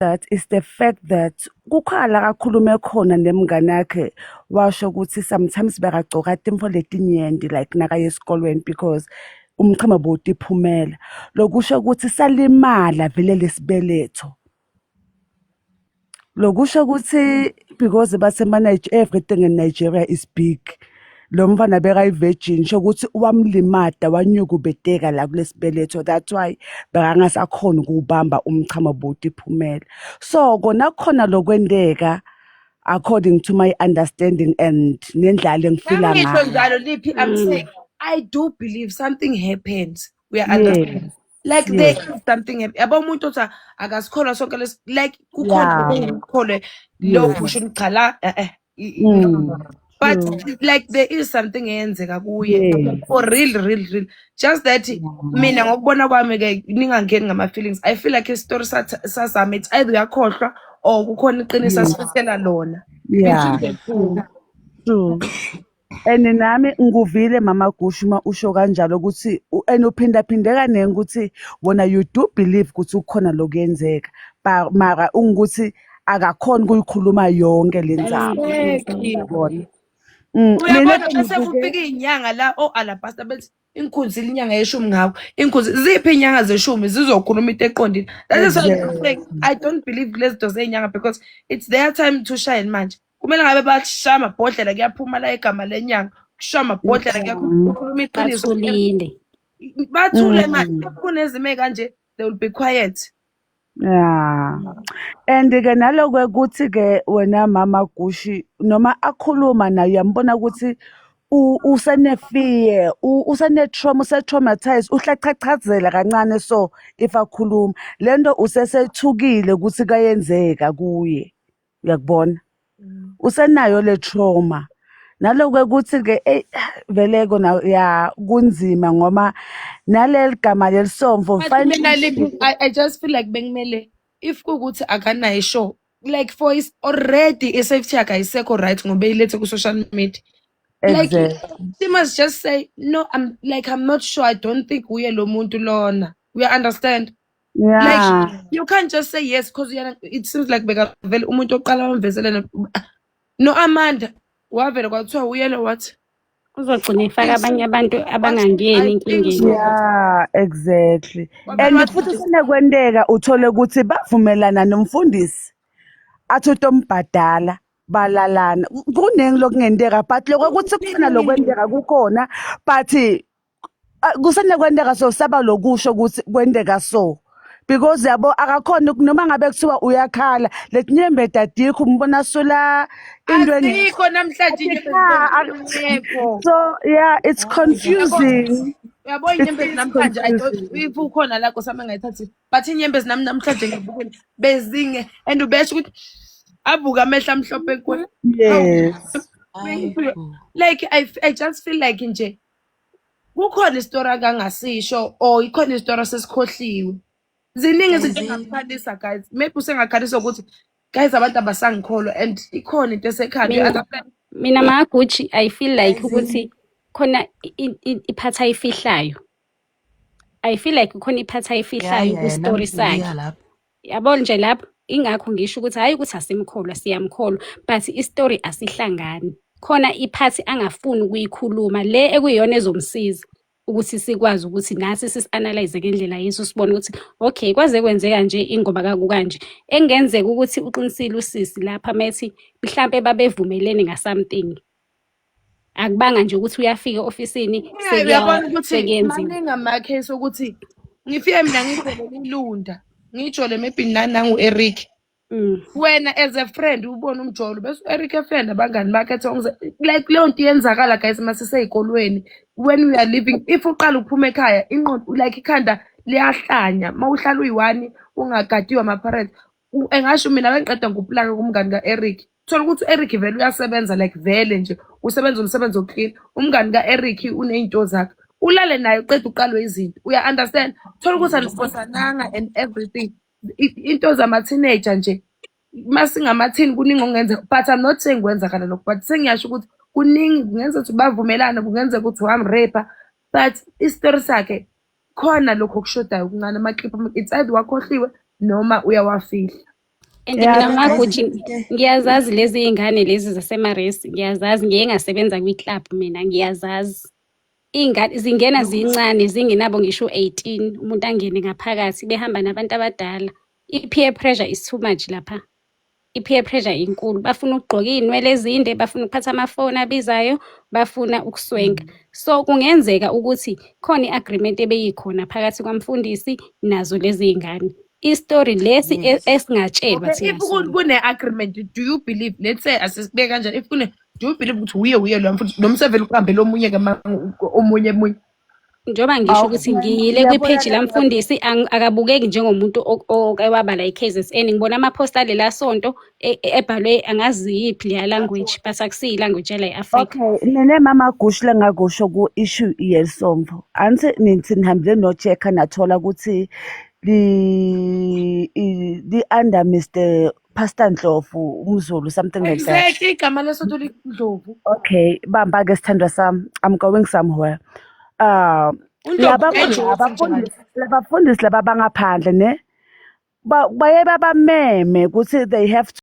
that is the fact that kukhala kakhulume khona nemngane yakhe washo ukuthi sometimes bekagcoka timfo letinyenti like nakaye esikolweni because umchamo bowutiphumela lokusho ukuthi salimala vele lesibeletho lokusho ukuthi because basemanaje everything in Nigeria is big Lo mfana bekayi-virgin sho ukuthi wamlimada wanyukubeteka la kulesibeletho that's why bekangasakhoni ukuwubamba umchamo bhuti phumela. So kona kukhona lokwendeka according to my understanding and nendlala engifila Nami ngisho ngayo. njalo liphi I'm saying I do believe something happened. We are understand. Yes, Like there yes. is something hap- yabo umuntu othi akasikholwa sonke lesi like kukhona Yeah. okungikholwe lokhu Yes. sho ukuthi cha la eh eh Mm, but true. like there is something eyenzeka kuye Yes. for real real real just that mina ngokubona kwami ke ningangeni ngama feelings i feel like isitori sath- sazama it's either uyakhohlwa or kukhona iqiniso asifisela lona Yeah, Between the two. true. And nami ngikuvile mama Gush uma usho kanjalo ukuthi u- and uphindaphinde kaningi ukuthi wona you do believe ukuthi kukhona lokuyenzeka ba- mara ungukuthi akakhona ukuyikhuluma yonke le nzaba Exactly. yabona Mm, mina uyabona bese sengibuke kufika iy'nyanga la o-alabasta bethi inkunzi ilinyanga yeshumi ngawo inkunzi ziphi iy'nyanga zeshumi zizokhuluma into eqondile that is why I'm exactly saying i don't believe lezi zinto zey'nyanga because it's their time to shine manje kumele ngabe bashaya amabhodlela kuyaphuma la igama lenyanga kushaya amabhodlela kuyakhuluma iqiniso bathulile bathule mm. manje kunezimo ekanje they will be quiet Yeah. And ke naloku ukuthi ke wena mama Gushi noma akhuluma naye uyambona ukuthi u- usene fear, u- usene trauma, use traumatized, uhlachachazela kancane so if akhuluma. Lento usesethukile ukuthi kayenzeka kuye. uyakubona usenayo le trauma naloku ukuthi-ke eyi veleko na ya kunzima ngoma naleli gama lelisomfo But kufanele mina like lishilo I, I just feel like bekumele if kukuthi akanayo ishow like for is already i-safety yakhe ayisekho right ngoba eyilethe ku-social media like exactly she must just say no I'm like I'm not sure I don't think uye lo muntu lona uya understand Yeah. Like you can't just say yes because uyena it seems like bekavele umuntu oqala wamvezelana no Amanda wavele kwathiwa uyena wathi uzogcina ifaka abanye abantu abangangeni enkingeni yeah exactly and futhi sinakwenteka uthole ukuthi bavumelana nomfundisi athi utombhadala balalana kuningi lokungenteka but lokho ukuthi kukhona lokwenteka kukhona but Ah, kusanda kwenteka so saba lokusho ukuthi kwenteka so because yabo akakhona uku- noma ngabe kuthiwa uyakhala letinyembeti adikho umbona asula into eng- asikho namhlanje inyembezi Yeah, I- zingekho so yeah it's confusing uyabo It's- inyembezi it's namhlanje I don't- confusing. if ukhona la kosami engayithathi but inyembezi nami namhlanje ngibukele bezinge and ubesho ukuthi avuke amehla amhlophe kuwe yes Hayi bo. like I, f- I just feel like nje kukhona isitori akangasisho or ikhona isitori asesikhohliwe ziningi izinto Ziningi. engakhalisa guys maybe usengakhalisa ukuthi guys abantu abasangikholwa and ikhona into esekhanda Mina- Other friend- mina magucci i feel like Amazing. ukuthi khona i- i- i- iphathi ayifihlayo i feel like khona iphathi ayifihlayo Yeah, yeah, kustory nami sakhe ngiya lapho. yabona nje lapho ingakho ngisho ukuthi hhayi ukuthi asimkholwa siyamkholwa but isitori asihlangani khona iphathi angafuni ukuyikhuluma le ekuyiyona ezomsiza ukuthi sikwazi ukuthi nathi sisi-analyze ngendlela yesu sibone ukuthi okay kwaze kwenzeka nje ingoba kakukanje engenzeka ukuthi uqinisile usisi lapha methi mhlampe babevumelene ngasomething akubanga nje ukuthi uyafika ofisini uyabona ukuthi sekuyenziwe maningi amakhesi okuthi ngifike mina ngijole ilunda ngijole maybe nani nangu-eric mm. wena as a friend ubona umjolo bese u-eric efenda abangani bakhe ethi ongize- like leyo nto iyenzakala guys uma siseyikolweni when we are living if uqala ukuphuma ekhaya inqondo like ikhanda liyahlanya uma uhlala uyi-one ungagadiwe ama-parents engasho mina bengiqeda ngikuplaka kumngani ka-eric thola ukuthi u-eric vele uyasebenza like vele nje usebenza umsebenzi wokuklina umngani ka-eric uney'nto zakhe ulale naye uqeda uqalwe izinto uya-understand thola ukuthi anisibosananga and everything into zama-teenager nje uma singamathini kuningi okungenza but i'm not saying kwenzakala lokho but sengiyasho ukuthi kuningi kungenzeka ukuthi bavumelane kungenzeka ukuthi wamrepa but isitori sakhe khona lokho okushodayo okuncane amakliphu it's either wakhohliwe noma uyawafihla and Yeah, mina ngakho yazi nje into e- ngiyazazi lezi iy'ngane lezi zasemaresi ngiyazazi ngiye ngasebenza kwi-club mina ngiyazazi iy'ngane zingena zincane zingenabo ngisho u-eighteen umuntu angene ngaphakathi behamba nabantu abadala i-peer pressure is too much lapha i-peer pressure inkulu bafuna ukugqoka iy'nwele ezinde bafuna ukuphatha amafoni abizayo bafuna ukuswenka so kungenzeka ukuthi khona i-agreement ebeyikhona phakathi kwamfundisi nazo lezi y'ngane isitori lesi e- esingatshelwa okay, if kune-agreement do you believe let's say asisibeke kanjani if kune do you believe ukuthi wuye wuye lo mfundisi noma usevele ukuhambe lomunye ke omunye omunye njengoba ngisho ukuthi ngiyile kwipheji lamfundisi akabukeki njengomuntu oke wabala i-kzn ngibona amaphosta alela sonto e, e, ebhalwe angazi yiphi leya language but akusiyi language yala i-afrika okay nene mama gushi lengakusho ku-issue yesombo anti nithi nihambile nochecka nathola ukuthi li-under mr Pastor Ndlovu, umZulu, something like that. Exactly, igama lesonto liNdlovu. Okay, bamba ke sithandwa sami. I'm going somewhere. Uh, UNdlovu laba enjoy laba ukuthi njalo. fundisi laba fundisi laba bangaphandle ne ba- baye babameme ukuthi they have to